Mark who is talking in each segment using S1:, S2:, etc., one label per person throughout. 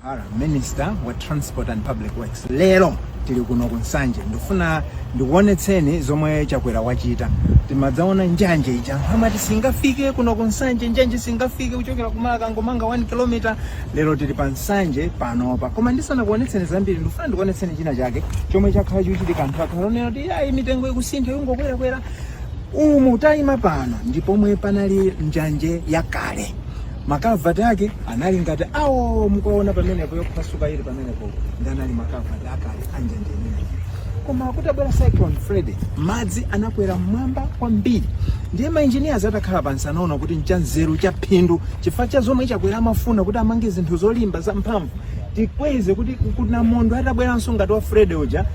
S1: Hara, Minister wa Transport and Public Works lero tili kuno ku Nsanje ndifuna ndikuonetseni zomwe Chakwera wachita timadzaona njanje ija amati singafike kuno ku Nsanje njanje singafike kuchokera ku Marka angomanga 1 km lero tili pa Nsanje panopa koma ndisanakuonetseni zambiri ndifuna ndikuonetseni china chake chomwe chakhala chikuchitika anthu akhala akunena kuti ayi mitengo ikusintha yungokwerakwera Umu tayima pano ndi pomwe panali njanje yakale. Makavati ake anali ngati awo mukuwaona pamenepo yophwasuka ili pamenepo ndi anali makavati akale a njanje imeneyi. Koma kutabwera Cyclone Freddy, madzi anakwera mmwamba kwambiri. Ndiye mainjiniyazi atakhala pansi anaona kuti nchanzeru chaphindu chifukwa cha zomwe chakwera amafuna kuti amange zinthu zolimba zamphamvu tikweze kuti namondwe atabweranso ngati wa Freddy uja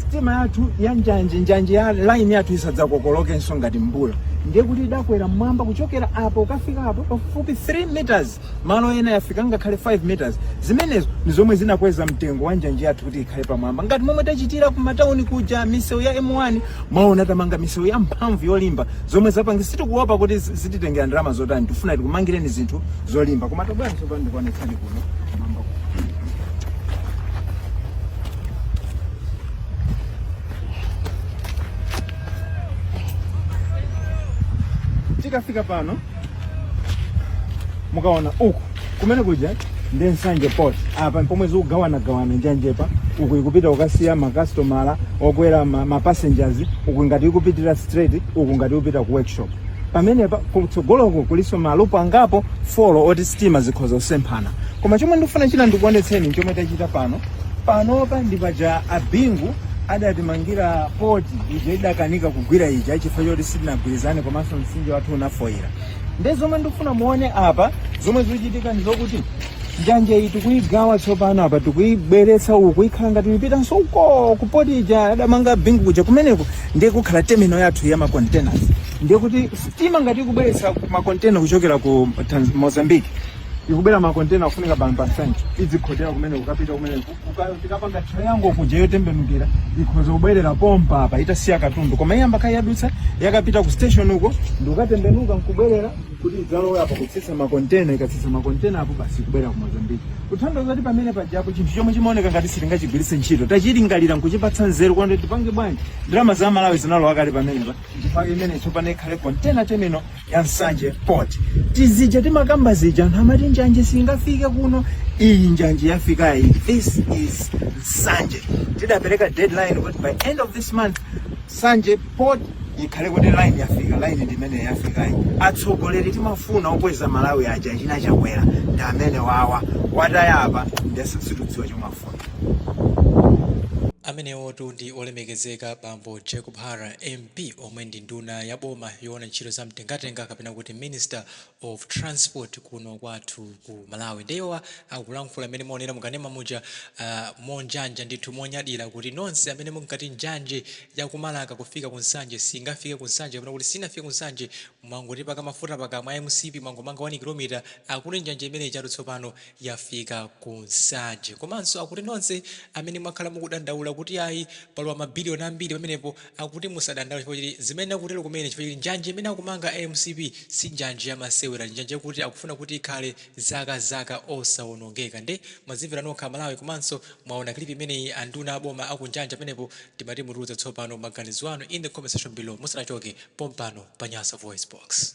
S1: sitima yathu ya njanje njanje ya line yathu isadzakokolokenso ngati mvula ndiye kuti idakwera mmwamba kuchokera apo kukafika apo pafupi 3 meters malo ena yafika ngakhale 5 meters zimenezo ndi zomwe zinakweza mtengo wa njanje yathu kuti ikhale pamwamba ngati momwe tachitira ku matauni kuja misewu ya m1 mwaona tamanga misewu ya mphamvu yolimba zomwe tapanga sitikuopa kuti zi- zititengera ndalama zotani tifuna tikumangireni zinthu zolimba koma tabwerani tsopano ndikuonetsani kuno tikafika pano mukaona uku kumene kuja ndi nsanje port apa mpomwe zikugawanagawana njanjepa uku ikupita kukasiya makasitomala okwera ma- mapassengers uku ngati ikupitira straight uku ngati ikupita ku workshop pamenepa kutsogoloko kulinso malupo angapo folo oti sitima zikhoza kusemphana koma chomwe ndikufuna china ndikuonetseni chomwe tachita pano panopa ndi paja a bingu adatimangira poti ija idakanika kugwira ija chifukwa choti sitinagwirizane komanso mtsinje wathu unafoyira nde zomwe ndikufuna muone apa zomwe zikuchitika ndi zokuti njanje iyi tikuyigawa tsopano apa tikuyibweretsa uku ikhala ngati ipitanso uko kupoti ija adamanga bingu kuja kumeneko ndiye kukhala terminal yathu ya macontainers ndiye kuti sitima ngati ikubweretsa macontainer kuchokera ku mozambique ikubwera makontena kufunika pa Nsanje idzikhotera kumene kukapita kumene tikapanga triangle kuja yotembenukira ikhoza kubwerera pompa apa itasiya katundu koma iyamba kaye yadutsa yakapita ku station uko ndikukatembenuka nkubwerera kuti idzalowe apa kutsitsa makontena ikatsitsa makontena apo basi kubwerera ku mozambiki kuthandiza kuti pamene pajapo chinthu chomwe chimaoneka ngati sitingachigwiritse ntchito tachilingalira nkuchipatsa nzeru kuti tipange bwanji ndalama za malawi zinalowa kale pamenepa chifukwa imene tsopano ikhale kontena temino ya nsanje port tizija timakamba zija anthu amati njanje singafike kuno iyi njanje yafikayi this is nsanje tidapereka deadline kuti by end of this month nsanje port ikhale kuti line yafika line ndimene yafikayi atsogoleri timafuna okweza malawi aja china chakwera ndi amenewawa tawataya apa nde sitikudziwa chomafuna
S2: amenewotu ndi olemekezeka bambo jacob hara mp Mcp omwe ndi nduna ya boma yoona ntchito za mtengatenga kapena kuti minister of transport kuno kwathu ku Malawi nde iwowa akulankhula mmene mwaonera mu kanema muja monjanja ndithu monyadira kuti nonse amene munkati njanje ya ku Marka kufika ku Nsanje singafike ku Nsanje kapena kuti sinafike ku Nsanje mwangotipaka mafuta pakamwa a mcp mwangomanga 1 kilomita akuti njanje imene ijatu tsopano yafika ku Nsanje komanso akuti nonse amene mwakhala mukudandaula kuti ayi palowa ma billion ambiri pamenepo akuti musadandaule chifukwa choti zimene akutero kumene chifukwa choti njanje imene akumanga a mcp si njanje ya masewera ndi njanje yakuti akufuna kuti ikhale zaka zaka osawonongeka nde mwazimvera nokha amalawi komanso mwaona clip imeneyi anduna a boma akunyanja pamenepo timati mutiuze tsopano maganizo anu in the comment section below musanachoke pompano pa nyasa voice box.